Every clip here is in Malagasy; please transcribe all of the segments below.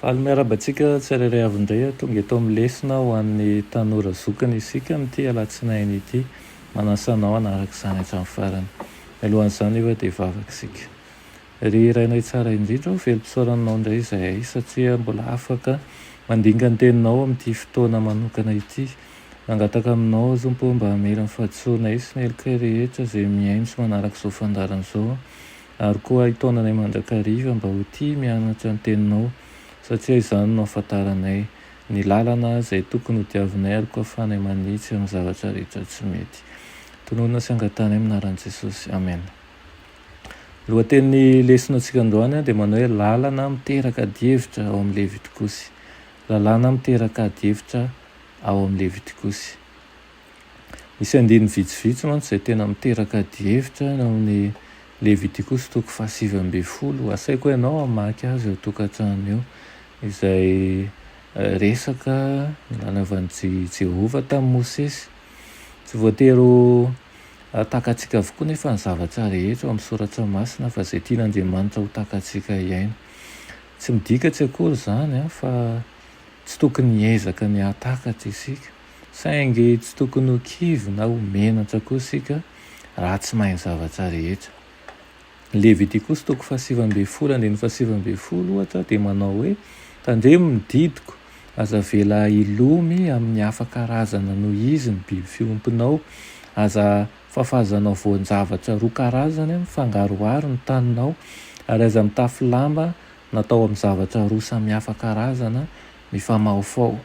Faly miaraba antsika tsirairay avy indray ary tonga eto amin'ny lesona ho an'ny tanora zokiny isika amin'ity alatsinainy ity. Manasa anao hanaraka izany hatramin'ny farany. Mialohan'izany nefa dia hivavaka isika. Ry Rainay tsara indrindra ô, velom-pisaorananao indray izahay satria mbola afaka mandinga ny teninao amin'ity fotoana manokana ity. Mangataka aminao aho Tompo ô mba hamela ny fahadisoanay sy ny helokay rehetra izay mihaino sy manaraka izao fandaharana izao. Ary koa ahy taonanay mandrakariva mba ho tia mianatra ny Teninao, satria izany no ahafantaranay ny lalana izay tokony ho diavinay ary koa ahafahanay manitsy amin'ny zavatra rehetra tsy mety. Tononina sy angatahana amin'ny anaran'i Jesosy. Amena. Ny lohatenin'ny lesonatsika androany dia manao hoe Lalana miteraka adihevitra ao amin'ny Levitikosy. Lalàna miteraka adihevitra ao amin'ny Levitikosy. Misy andininy vitsivitsy mantsy izay tena miteraka adihevitra any amin'ny Levitikosy toko fahasivy ambin'ny folo. Asaiko ianao hamaky azy eo an-tokantrano eo, izay resaka ny nanaovan'i Jehovah tamin'i Mosesy. Tsy voatery ho takatsika avokoa anefa ny zavatra rehetra ao amin'ny Soratra Masina, fa izay tian'Andriamanitra ho takatsika hiaina. Tsy midika tsy akory izany fa tsy tokony hiezaka ny hahatakatra isika. Saingy tsy tokony ho kivy na ho menatra koa isika raha tsy mahay ny zavatra rehetra. Ny Levitikosy toko fahasivy ambin'ny folo andininy fahasivy ambin'ny folo, ohatra, dia manao hoe, Tandremo ny didiko, aza avela hilomy amin'ny hafa karazana noho izy ny biby fiompinao, aza fafazanao voan-javatra roa karazany mifangaroharo ny taninao, ary aza mitafy lamba natao amin'ny zavatra roa samihafa karazana mifamahofaho.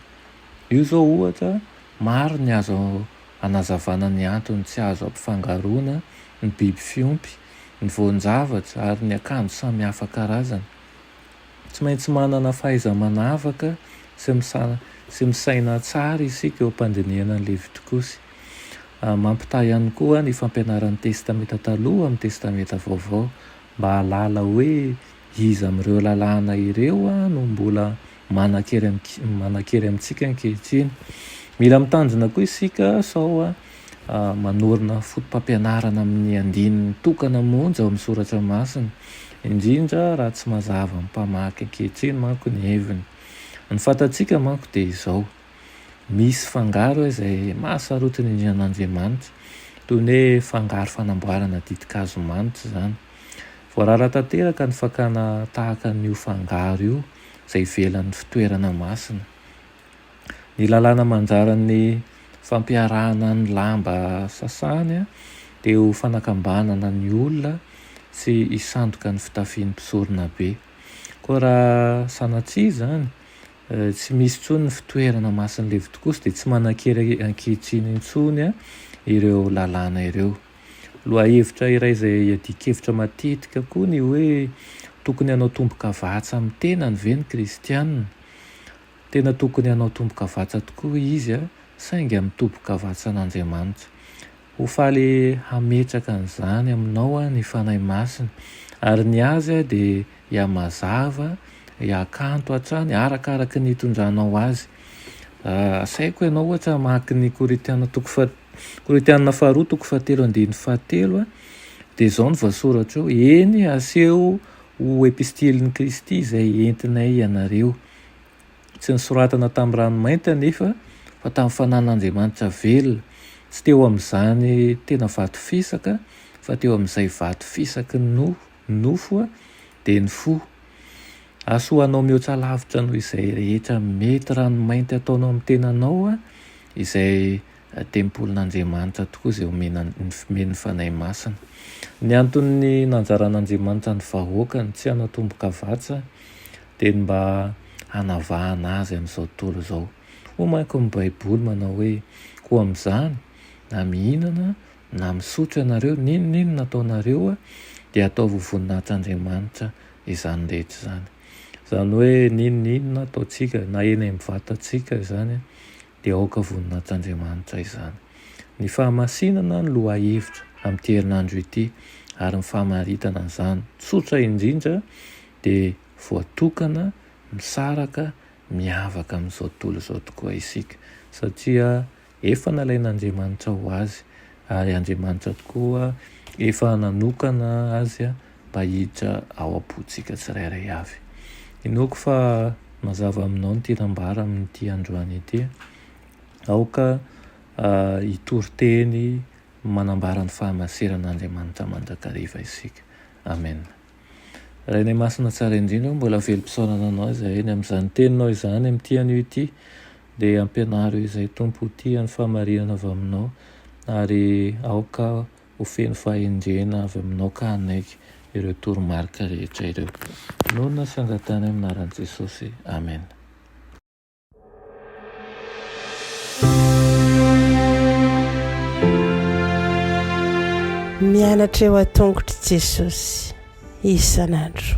Io izao ohatra, maro ny azo anazavana ny antony tsy azo ampifangaroana ny biby fiompy, ny voan-javatra ary ny akanjo samihafa karazana. Tsy maintsy manana fahaiza-manavaka sy misaina tsara isika eo am-pandinihana ny Levitikosy. Mampitaha ihany koa ny fampianaran'ny Testamenta Taloha amin'ny Testamenta Vaovao mba hahalala hoe Iza amin'ireo lalàna ireo no mbola manan-kery amintsika ankehitriny? Mila mitandrina koa isika sao manorina fotopampianarana amin'ny andininy tokana monja ao amin'ny soratra masina, indrindra raha tsy mazava amin'ny mpamaky ankehitriny manko ny heviny. Ny fantatsika manko dia izao. misy fangaro izay mahasarotiny indrindra an'Andriamanitra, toy ny hoe fangaro fanamboarana ditin-kazo manitra izany. Voarara tanteraka ny fakana tahaka an'io fangaro io izay ivelan'ny fitoerana masina. Ny lalàna manjaran'ny fampiarahana ny lamba sasany dia ho fanakambanana ny olona tsy hisandoka ny fitafian'ny mpisoronabe. Koa raha sanatria izany Tsy misy intsony ny fitoerana masin'ny levotikosy dia tsy manan-kery ankehitriny intsony ireo lalàna ireo. Lohahevitra iray izay iadian-kevitra matetika koa ny hoe tokony hanao tombokavatsa amin'ny tenany ve ny kristiana. Tena tokony hanao tombokavatsa tokoa izy, saingy amin'ny tombokavatsan'Andriamanitra. Ho faly hametraka an'izany aminao ny Fanahy Masina, ary ny azy dia hihamazava, hihakanto hatrany arakaraka ny hitondranao azy. Asaiko ianao ohatra hamaky ny Korintiana toko faha, Korintiana faharoa toko fahatelo andininy fahatelo, dia izao no voasoratra eo, eny, aseho ho epistilin'i Kristy izay entinay ianareo, Tsy nosoratana tamin'ny rano mainty anefa fa tamin'ny fanan'Andriamanitra velona, tsy teo amin'izany tena vato fisaka fa teo amin'izay vato fisaky ny nofo, ny nofo dia ny fo. Hahasoanao mihoatra lavitra noho izay rehetra mety rano mainty ataonao amin'ny tenanao izay Tempolin'Andriamanitra tokoa izay omena ny fmeny ny Fanahy Masina. Ny anton'ny nanjaran'Andriamanitra ny vahoakany tsy hanao tombokavatsa dia ny mba hanavahana azy amin'izao tontolo izao. Hoy manko ny Baiboly manao hoe, Koa amin'izany, na mihinana na misotro ianareo, n'inon'inona ataonareo, dia ataovy ho voninahitr'Andriamanitra izany rehetra izany. Izany hoe n'inon'inona ataontsika, na eny amin'ny vatantsika izany, dia aoka voninahitr-Andriamanitra izany. Ny fahamasinana ny lohahevitra amin'ity herinandro ity ary ny famaritana an'izany tsotra indrindra dia voatokana misaraka miavaka amin'izao tontolo izao tokoa isika satria efa nalain'Andriamanitra ho Azy ary Andriamanitra tokoa efa nanokana Azy mba hiditra ao am-pontsika tsirairay avy. Inoako fa mazava aminao ny tiana ambara amin'ity androany ity. Aoka hitory teny manambara ny fahamaseran'Andriamanitra mandrakariva isika. Amena. Rainay Masina Tsara Indrindra, mbola velom-pisaorana Anao izahay eny amin'izany Teninao izany, amin'ity anio ity, dia ampianaro izay Tompo ho tia ny fahamarihana avy Aminao, ary aoka Ho feno fahendrena avy aminao ka hanaiky ireo toromarika rehetra ireo. Noana sy angatahina amin'ny anaran'i Jesosy. Amena. Mianatra eo an-tongotr'i Jesosy isan'andro.